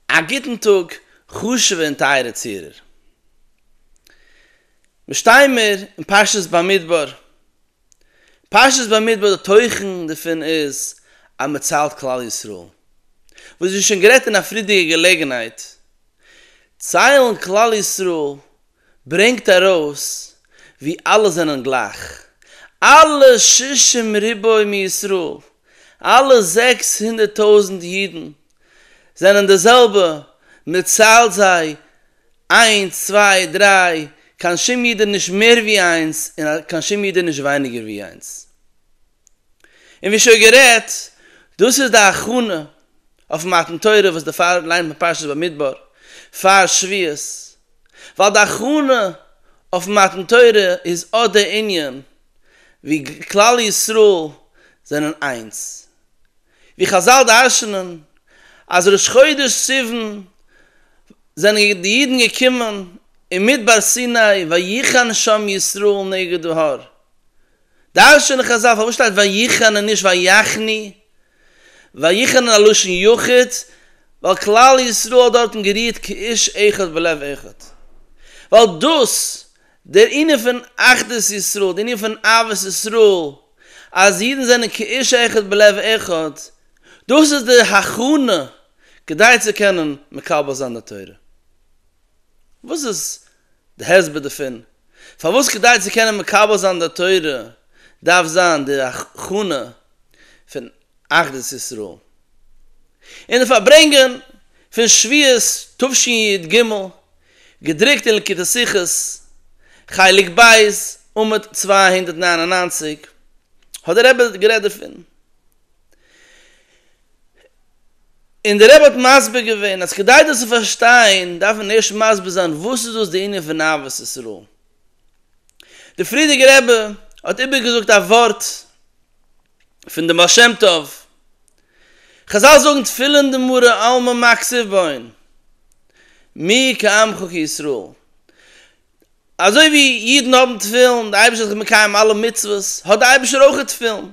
א גוטן טאג חשוב'ע און טייערע צוהערער. מיר שטייען מיר אין פרשת במדבר. פרשת במדבר די תוכן דערפון איז אז מען ציילט כלל ישראל. וואס ווי שוין גערעדט אין א פריערדיגע געלעגנהייט, ציילן כלל ישראל ברענגט ארויס ווי אלע זענען גלייך, אלע שישים ריבוא מישראל, אלע זעקס הונדערט טויזנט אידן זענען די זעלבע, מען ציילט זיי איינס צוויי דריי, קיין שום איד איז נישט מער ווי איינס און קיין שום איד איז נישט ווייניגער ווי איינס, און ווי שוין גערעדט, דאס איז די הכנה אויף מתן תורה וואס דערפאר ליינט מען פרשת במדבר פאר שביעות, ווייל די הכנה אויף מתן תורה איז אט די ענין ווי כלל ישראל זענען איינס, ווי חזל דרש'נען אז ראש חודש סיוון זענען די אידן געקומען אין מדבר סיני ויחן שם ישראל נגד ההר, דרש'ענען חזל פארוואס שטייט ויחן און נישט ויחני? ויחן איז א לשון יחיד, ווייל כלל ישראל האט דארטן גערירט כאיש אחד בלב אחד. ווייל דאס, דער ענין פון אחדות ישראל, דער ענין פון אהבת ישראל, אז אידן זענען כאיש אחד בלב אחד, דאס איז די הכנה כדי צו קענען מקבל זיין די תורה. וואס איז די הסבר דערפון, פארוואס כדי צו קענען מקבל זיין די תורה דארף זיין די הכנה פון אחדות ישראל, און די פארברענגען פון שבועות תשי ד, ג, געדרוקט אין לקוטי שיחות, חלק ב', עמוד צוויי הונדערט נײַן און נײַנציק, האט דער רבי גערעדט דערפון. און דער רבי האט מסביר געווען אז כדי דאס צו פארשטיין דארף מען ערשט מסביר זיין וואס איז דאס די ענין פון אהבת ישראל. דער פריערדיגער רבי האט איבערגעזאגט א ווארט פון דעם בעל שם טוב, חזל זאגן תפילין דמרא עלמא מקציב בין מי כעמך כישראל, אזוי ווי אידן האבן תפילין, דער אייבערשטער האט זיך מקיים אלע מצוות, האט דער אייבערשטער אויך תפילין.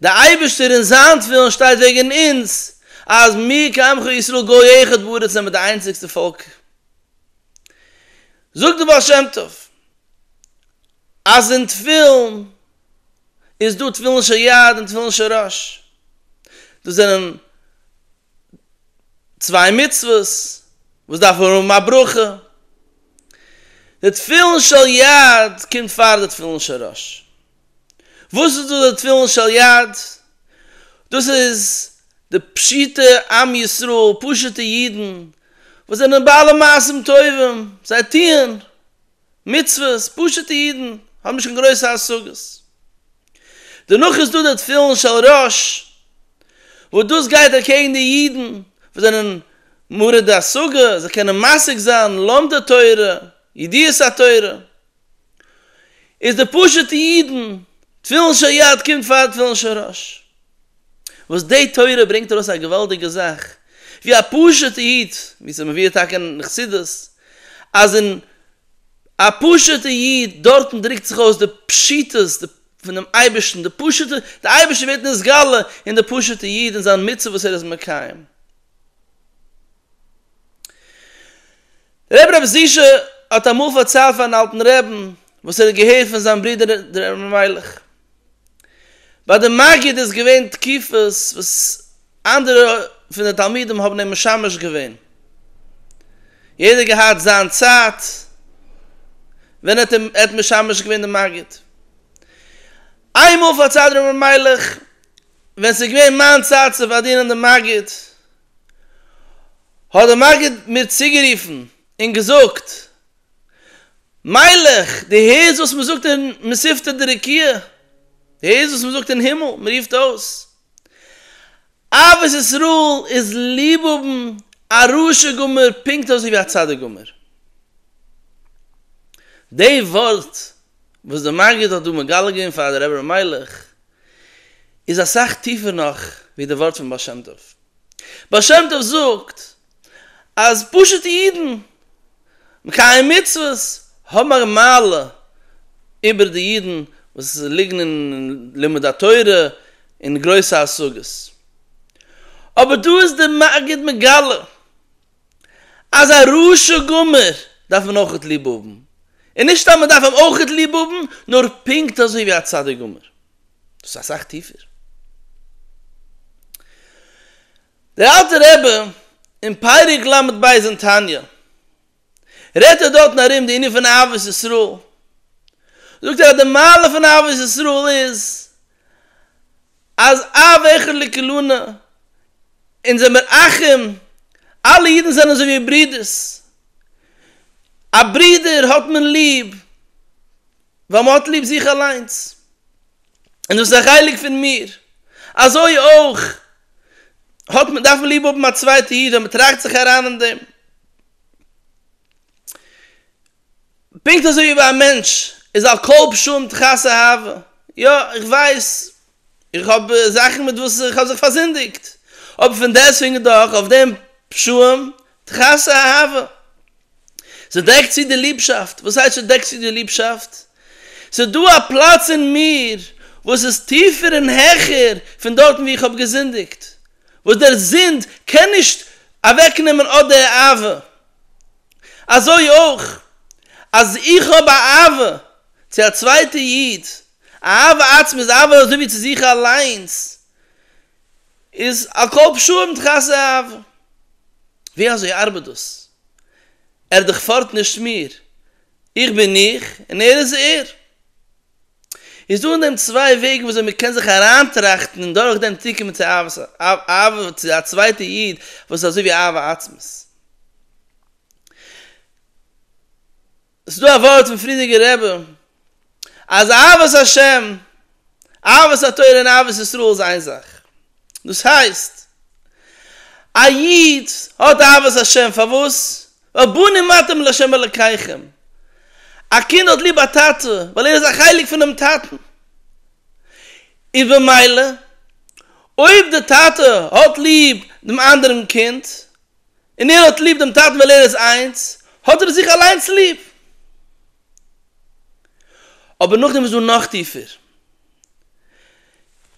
דער אייבערשטער אין זיין תפילין שטייט וועגן אונז אז מיר כעמך ישראל גוי אחד בארץ זעמיר די איינציגסטע פאלק. זאגט דער בעל שם טוב אז אין תפילין איז דא תפילין של יד און תפילין של ראש, דאס זענען צוויי מצוות וואס דארפן האבן א ברכה, די תפילין של יד קומט פאר די תפילין של ראש, וואס איז דא די תפילין של יד? דאס איז די פשוטע עם ישראל, פשוטע אידן, וואס זענען בעלי מעשים טובים, זיי טוען מצוות, פשוטע אידן, האבן נישט קיין גרויסע השגות. דערנאך איז דא די תפילין של ראש, וואס דאס גייט אקעגן די אידן וואס זענען מורידי השגה, זיי קענען משיג זיין לומדי תורה, ידיעת התורה, איז די פשוטע אידן, תפילין של יד קומט פאר תפילין של ראש, וואס די תורה ברענגט ארויס א געוואלדיגע זאך, ווי א פשוטע איד, ווי ס'איז מבואר טאקע אין חסידות, אז אין א פשוטע איד דארטן דרוקט זיך אויס די פשיטות פונעם אייבערשטן, די פשוטע, די אייבערשטער ווערט נתגלה אין די פשוטע איד אין זיין מצוה וואס ער איז מקיים. רבי רב ז ל האט אמאל פארציילט פארן אלטן רעבן וואס ער האט געהערט פון זיין ברודער דער אלימלך. ביי די מגיד איז געווען תקופות וואס אנדערע פון די תלמידים האבן אים משמש געווען. יעדער געהאט זיין צייט ווען ער האט אים ער האט משמש געווען די מגיד. איינמאל פארציילט דער אלימלך ווען ס'איז געווען מיין צייט צו פארדינען די מגיד, האט דער מגיד מיר צוגערופן און געזאגט, מיילעך, דו הערסט וואס מען זאגט אין מספתא דרקיע? דו הערסט וואס מען זאגט אין הימל? מען רופט אויס, אהבת ישראל איז ליב האבן א רשע גמור פונקט אזוי ווי א צדיק גמור. די ווארט וואס דער מגיד האט דא מגלה געווען פאר דער רבי מיילעך, איז אסאך טיפער נאך ווי די ווארט פון בעל שם טוב. בעל שם טוב זאגט אז פשוט'ע אידן מקיים מצוות האבן א מעלה איבער די אידן וואס ליגן אין לימוד התורה און גרויסע השגות. אבער דא איז די מגיד מגלה. אז א רשע גמור דארף מען אויכעט ליב האבן, און נישט סתם מען דארף אים אויכעט ליב האבן, נאר פונקט אזוי ווי א צדיק גמור. דאס איז אסאך טיפער. דער אלטער רבי אין פרק ל ב אין תניא, רעדט ער דארטן ארום די ענין פון אהבת ישראל, זאגט ער אז די מעלה פון אהבת ישראל איז אז א וועכער לקלונה און זיי מיר אחים, אלע אידן זענען אזוי ווי ברודערס, א ברודער האט מען ליב ווייל מען האט ליב זיך אליינס, און דאס איז א חלק פון מיר, אזוי אויך האט מען, דארף מען ליב האבן א צווייטע איד ווען מען טראכט זיך אריין אין דעם. פונקט אזוי ווי ביי א מענטש איז על כל פשעים תכסה אהבה, יא איך ווייס איך האב זאכן מיט וואס איך האב זיך פארזינדיגט, אבער פון דעסוועגן דאך אויף דעם פשעים תכסה אהבה, ס'דעקט צו די ליבשאפט, וואס הייסט ס'דעקט צו די ליבשאפט? ס'דא א פלאץ אין מיר וואס איז טיפער און העכער פון דארטן וואו איך האב געזינדיגט, וואס דער זינד קען נישט אוועקנעמען אט די אהבה. אזוי אויך אז איך האב א אהבה צו א צווייטע איד, אהבה עצמית איז אהבה אזוי ווי צו זיך אליינס, איז הכל פשעים תכסה אהבה. ווי אזוי ארבעט דאס? ער דערפארט נישט מיר, איך בין איך און ער איז ער. איז דא אין דעם צוויי וועגן וויאזוי מען קען זיך אריינטראכטן און דורכדעם צוקומען צו אהבת אהבה צו א צווייטע איד וואס איז אזוי ווי אהבה עצמית. ס'איז דא א ווארט פון פרידיגער רבי אז אהבת השם, אהבת התורה און אהבת ישראל איז איין זאך. דאס הייסט, א איד האט אהבת השם פארוואס? רבנים אתם לה' אלקיכם, א קינד האט ליב א טאטע ווייל ער איז א חלק פונעם טאטן, איז במילא אויב די טאטע האט ליב דעם אנדערן קינד, און ער האט ליב דעם טאטן ווייל ער איז איינס, האט ער זיך אליינס ליב. אבער נאכדעם איז דא נאך טיפער,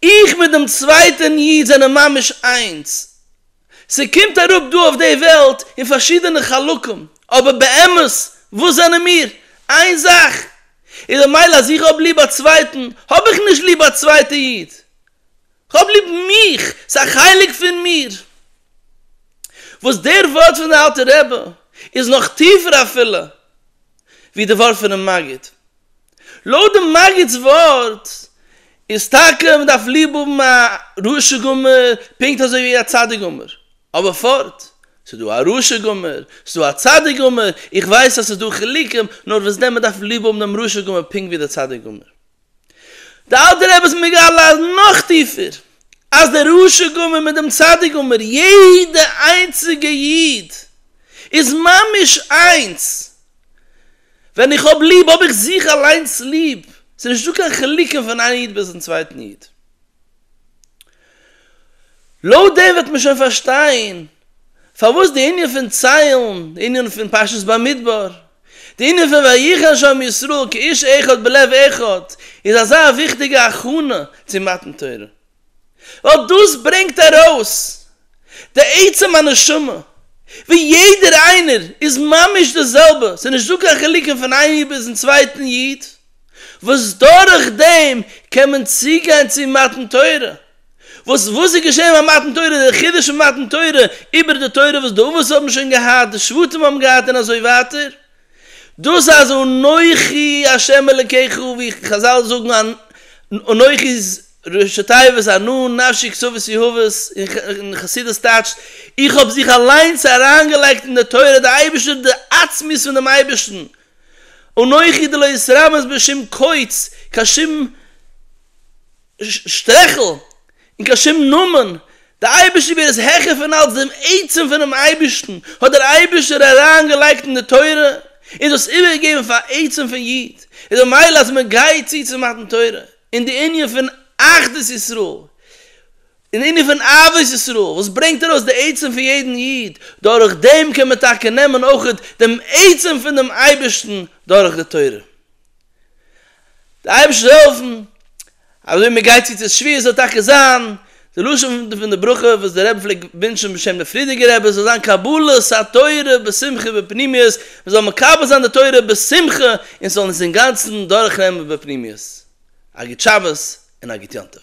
איך מיט דעם צווייטען איד זענען ממש איינס, ס'קומט אראפ דא אויף די וועלט אין פארשידענע חלקים, אבער באמת וואס זענען מיר? איין זאך איז במילא אז איך האב ליב א צווייטן, האב איך נישט ליב א צווייטע איד, כ'האב ליב מיך, ס'א חלק פון מיר. וואס דער ווארט פון די אלטע רבי איז נאך טיפער אפילו ווי די ווארט פונעם מגיד. לויט די מגד'ס ווארט איז טאקע מען דארף ליב האבן א רשע גמור פונקט אזוי ווי א צדיק גמור, אבער פארט, ס'איז דא א רשע גמור, ס'איז דא א צדיק גמור, איך ווייס אז ס'איז דא חילוקים, נאר וואס דען מען דארף ליב האבן דעם רשע גמור פונקט ווי די צדיק גמור. די אלטער רבי איז מגלה אז נאך טיפער, אז דער רשע גמור מיט דעם צדיק גמור, יעדע איינציגע איד, איז ממש איינס, ווען איך האב ליב האב איך זיך אליינס ליב, ס'איז נישטא קיין חילוקים פון איין איד ביזן צווייטן איד. לויט דעם וועט מען שוין פארשטיין פארוואס די ענין פון ציילן, די ענין פון פרשת במדבר, די ענין פון ויחן שם ישראל כאיש אחד בלב אחד איז אזא וויכטיגע הכנה צו מתן תורה, ווייל דאס ברענגט ארויס די עצם הנשמה, ווי יעדער איינער איז ממש די זעלבע, ס'איז נישט דא קיין חילוקים פון איין איד ביזן צווייטן איד, וואס דורך דעם קען מען צוגיין צו מתן תורה, וואס וואס איז געשען ביי מתן תורה, דער חידוש פון מתן תורה איבער די תורה וואס די אבות האבן שוין געהאט, די שבטים האבן געהאט און אזוי ווייטער. דאס אז אנכי השם אלקיך ווי חזל זאגן אנ אנכי ראשי תיבות אנא נפשי קצוות יהוה און חסידות טייטשט איך האב זיך אליינס אריינגעלייגט אין די תורה די אייבערשטער די עצמיות פון דעם אייבערשטן אנכי דלא אתרמז בשום קוץ קיין שום שטרעכל, און קיין שום נאמען, די אייבערשטער ווער איז העכער פון אלץ דעם עצם פונעם אייבערשטן האט דער אייבערשטער אריין געלייגט אין די תורה און דאס איבער געגעבן פאר עצם פון איד איז די מייל אז מען גייט צו צו מתן תורה און די ענין פון אחדות ישראל און די ענין פון אהבת ישראל וואס ברענגט ארויס די עצם פון יעדן איד דורך דעם קען מען טאקע נעמען אויך דעם עצם פון דעם אייבערשטן דורך די תורה. די אייבערשטער זאל העלפן אז ווי מען גייט צו צו שביעית זאל טאקע זיין די לשון פון די ברכה וואס דער רבי פלעגט ווינטשן בשם די פרידיגע רבי עס זאל זיין קבלת התורה בשמחה ובפנימיות מען זאל מקבל זיין די תורה בשמחה און עס זאל אונז אינגאנצן דורכנעמען בפנימיות א גוט שבת און א גוט יום טוב.